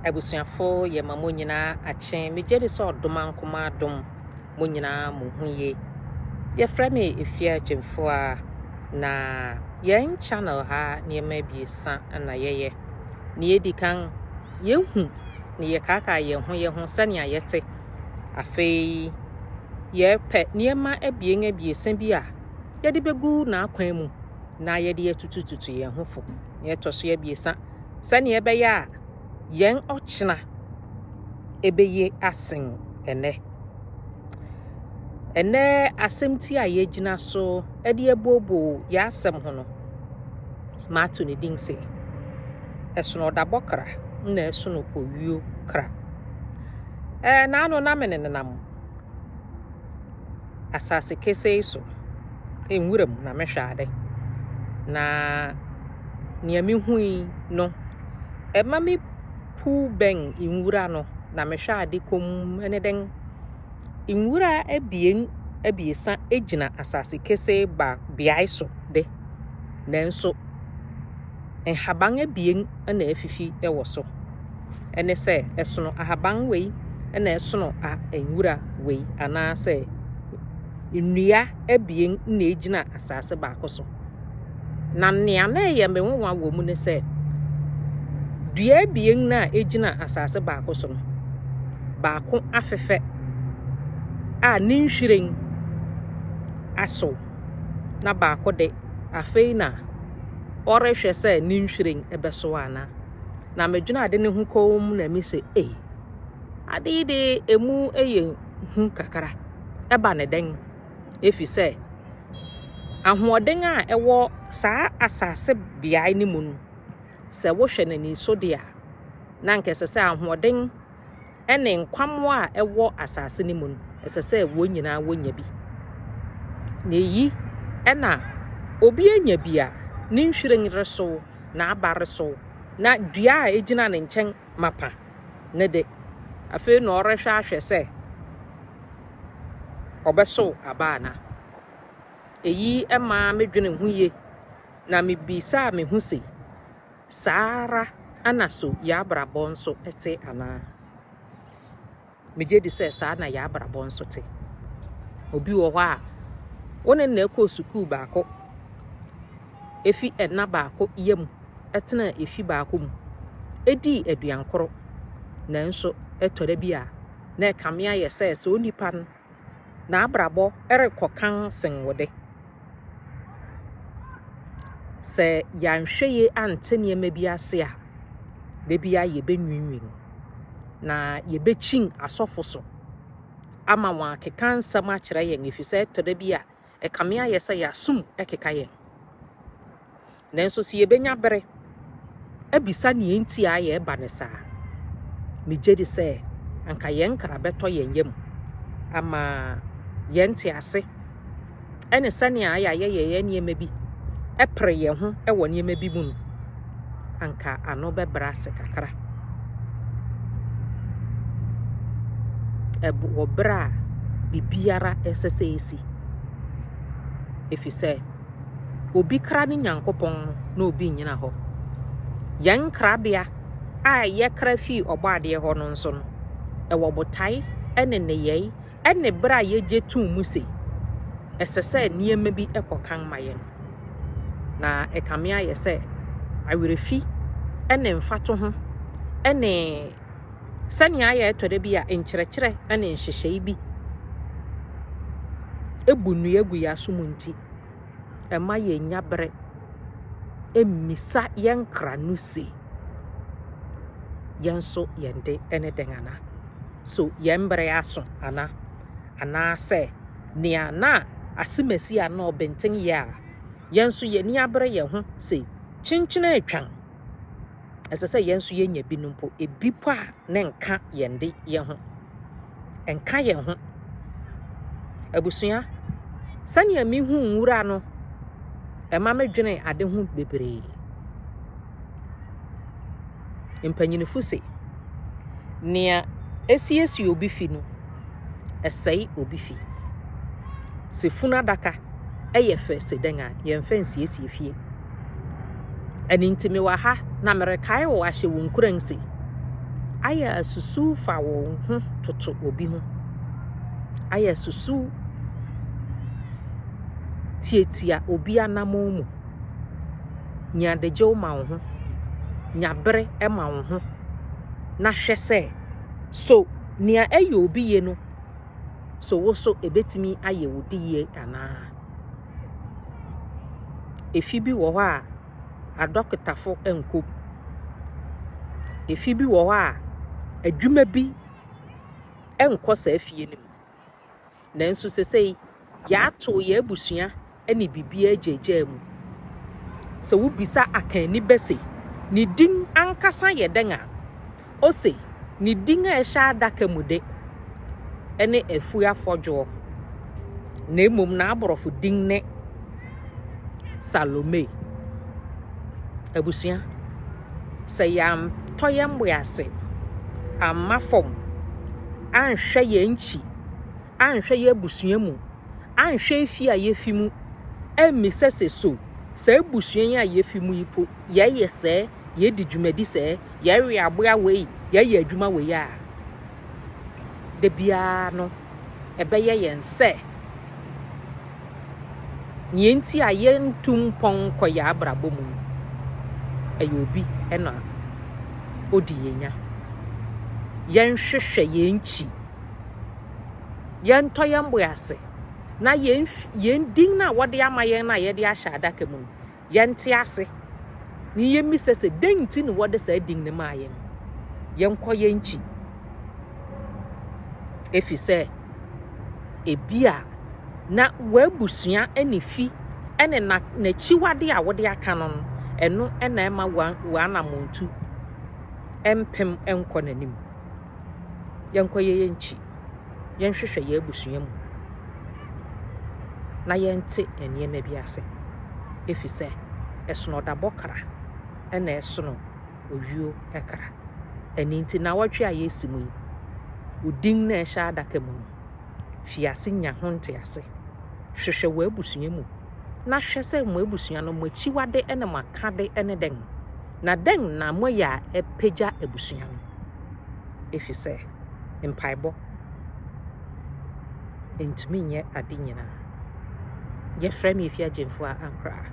Abusuafo yɛ ma mo nyinaa akye. Megye di sɛ ɔdom ankoma adom mo nyinaa mo ho yie. Yɛfrɛ me Efia Gyimfoa na yɛn channel ha nneɛma abiesa na yɛyɛ. Nea edi kan, yɛhu na yɛkaakaa yɛn ho yɛn ho sɛnea yɛte. Afei, yɛpɛ nneɛma abien abiesa bi a yɛde bɛgu n'akwan mu na yɛde atutututu yɛn ho fo. nea ɛtɔ so abiɛsa, sɛnea ɛbɛyɛ a yɛn ɔkyena ɛbɛye asen ɛnɛ. Ɛnɛ asɛmti a yɛgyina so de abuoboo yɛn asɛm ho no, maato ne din sɛ, ɛsono ɔdabɔ kra na ɛsono owuo kra. Ɛɛ, naano na me nenam asase kesee so, nwura mu na mehwɛ ade. Na nea mehui no, ɛma me puw bɛn nwura no na mehwɛ ade komm ne dɛn? Nwura abien abiɛsa gyina asase kesee ba beae so de, nanso Nhaban abien na afifi wɔ so. Ɛne sɛ, ɛsono ahaban wei na ɛsono a nwura wei, anaasɛ nnua abien na egyina asase baako so. Na nea na ɛyɛ me nwonwa wɔ mu ne sɛ, dua abien na egyina asase baako so no, baako afefɛ a ne nhwiren asow, na baako de, afei na ɔrehwɛ sɛ ne nhwiren bɛso ana. Na medwene ade no ho komm na mi sɛ, ei, ade yi de emu yɛ hu kakra. Ɛba ne dɛn? Efi sɛ ahoɔden a ɛwɔ saa asase beae no mu no, sɛ wohwɛ n'ani so de a, na anka ɛsɛ sɛ ahoɔden ne nkwammoa a ɛwɔ asase no mu no, ɛsɛ sɛ wɔn nyinaa wɔnya bi. Na eyi na obi anya bi a ne nhwiren resow na aba resow na dua a egyina ne nkyɛn mapa ne de afei na ɔrehwɛ ahwɛ sɛ ɔbɛsow aba ana. Eyi maa medwene ho yie na mebisaa me ho se, Saa ara na so yɛn abrabɔ nso te anaa? Megye di sɛ saa na yɛn abrabɔ nso te. Obi wɔ hɔ a, wo ne na ɛkɔɔ sukuu baako, efi ɛna baako yɛ mu, ɛtena efi baako mu, edii aduan koro, nanso ɛtɔ da bi a, na ɛkame ayɛ sɛ sɛ onipa no n'abrabɔ rekɔ kann sen wo de. Sɛ yɛanhwɛ yie ante nneɛma bi ase a, da bi a yɛbɛnwinwin na yɛbɛkyin asɔfo so ama wɔn akeka nsɛm akyerɛ yɛn ɛfiri sɛ ɛtɔ da bi a Ɛkame ayɛ sɛ yɛasom keka yɛn. Nanso sɛ yebenya bere abisa nea enti a yɛreba no saa a, migye di sɛ anka yɛn kra bɛtɔ yɛn yam ama yɛn ntease ne sɛnea yɛayɛ yɛn nneɛma bi pere yɛn ho wɔ nneɛma bi mu no anka ano bɛbrɛ ase kakra. Ɛb wɔ berɛ a biribiara ɛsɛ sɛ ɛsi. Ɛfiri sɛ, obi kra ne Nyankopɔn no na obi nnyina hɔ. Yɛn krabea a yɛkra fii ɔbɔ adeɛ hɔ no nso no, ɛwɔ botae ne nneyɛe Ɛne bere a yegye tom mu sɛ ɛsɛ sɛ nneɛma bi kɔ kan ma yɛn. Na ɛkame ayɛ sɛ awerɛfi ne mfatoho ne sɛnea ayɛ ɛtɔ da bi a nkyerɛkyerɛ ne nhyehyɛe bi ebu nnua gu yɛn aso mu nti, ɛma yɛnya bere mmisa yɛn kra no se, yɛn nso yɛn de ne dɛn ana? So yɛn bere aso ana? Anaasɛ nea na ase Mesia no ɔbenten yɛ a yɛn nso yɛn ani abere yɛn ho sɛ kyenkyen atwam? Ɛsɛ sɛ yɛn nso yɛnya bi no mpo, ebi mpo a ne nka yɛn de yɛn ho. Ɛnka yɛn ho. Abusua, sɛnea mehu nwura no, ɛma medwene ade ho bebree. Mpanyinfo se, Nea esiesie obi fi no, ɛsɛe obi fi. Sɛ funu adaka yɛ fɛ sɛ dɛn a, yɛmfa nsiesie fie. Ɛno nti mewɔ ha na merekae wo ahyɛ wo nkuran se, ayɛ asusuw fa wo ho toto obi ho. Ayɛ asusuw tietia obi anammɔn mu. Nya adagyew ma wo ho. Nya bere ma wo ho na hwɛ sɛ so nea ɛyɛ obi ye no so wo so ebetumi ayɛ wo de yie anaa. Efi bi wɔ hɔ a adɔkotafo nko. Efi bi wɔ hɔ a adwuma bi nkɔ saa fie no mu. Nanso sesei yɛatow yɛn abusua ne biribiara agyaagyaa mu. Sɛ wubisa akanni bɛ se, Ne din ankasa yɛ dɛn a, ose, Ne din a ɛhyɛ adaka mu de, ɛne Afu Afɔdwoɔ, na mmom n'aborɔfo din ne Salome. Abusua, sɛ yɛantɔ yɛn bo ase amma fam anhwɛ yɛn nkyi, anhwɛ y'abusua mu, anhwɛ efi a yefi mu, ammisa sɛ so saa abusua yi a yefi mu yi po, yɛyɛ sɛɛ, yɛdi dwumadi sɛɛ, yɛwe aboa wei, yɛyɛ adwuma wei a, da biara no, ɛbɛyɛ yɛn sɛ nea nti a yɛntu mpɔn nkɔ yɛn abrabɔ mu no, ɛyɛ obi na odi yɛn nya. Yɛnhwehwɛ yɛn nkyi. yɛntɔ yɛn bo ase na yɛn yɛn din no a wɔde ama yɛn no a yɛde ahyɛ adaka mu no yɛnte ase na yɛmmisa sɛ dɛn nti na wɔde saa din no maa yɛn yɛnkɔ yɛn nkyi efi sɛ ebi a na w'abusua ne fi ne n'akyiwade a wɔde aka no no ɛno na ɛma w'anamontu mpem nkɔ n'anim yɛnkɔyɛ yɛn nkyi, yɛnhwehwɛ yɛn abusua mu na yɛnte nneɛma bi ase, ɛfiri sɛ ɛsono ɔdabɔ kra ɛna ɛsono owuo kra. Ɛno nti na wɔtwe a yɛresi mu yi, odin na ɛhyɛ adaka mu no, fi ase nya ho ntease, hwehwɛ w'abusua mu na hwɛ sɛ mo abusua no mo akyiwade ne mo akade ne dɛn, na dɛn na moyɛ a ɛpagya abusua no. Ɛfiri sɛ mpaebɔ ntumi nyɛ ade nyinaa. Yɛfrɛ me Efi Agyemfo a ankoraa.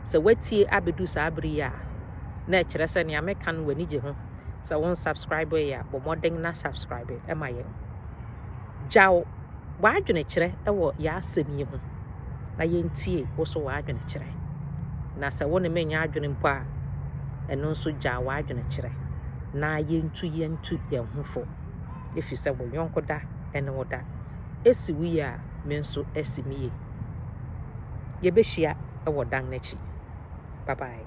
Sɛ woatie abɛdu saa bere yi a, na ɛkyerɛ sɛ nea meka no w'ani gye ho. Sɛ wo nsubscribe yɛ a, bɔ mmɔden na subscribe ma yɛn. Gyaw w'adwenekyerɛ wɔ yɛ asɛm yi ho na yɛntie wo so w'adwenekyerɛ. Na sɛ wo ne me nyɛ adwene mpo a, ɛno nso gyaw w'adwenekyerɛ na yɛntu yɛntu yɛn ho fo. Ɛfiri sɛ wo yɔnko da ne wo da. Ɛsi wo yie a, me nso asi me yie. Yɛbɛhyia wɔ dan no akyi. Bye bye.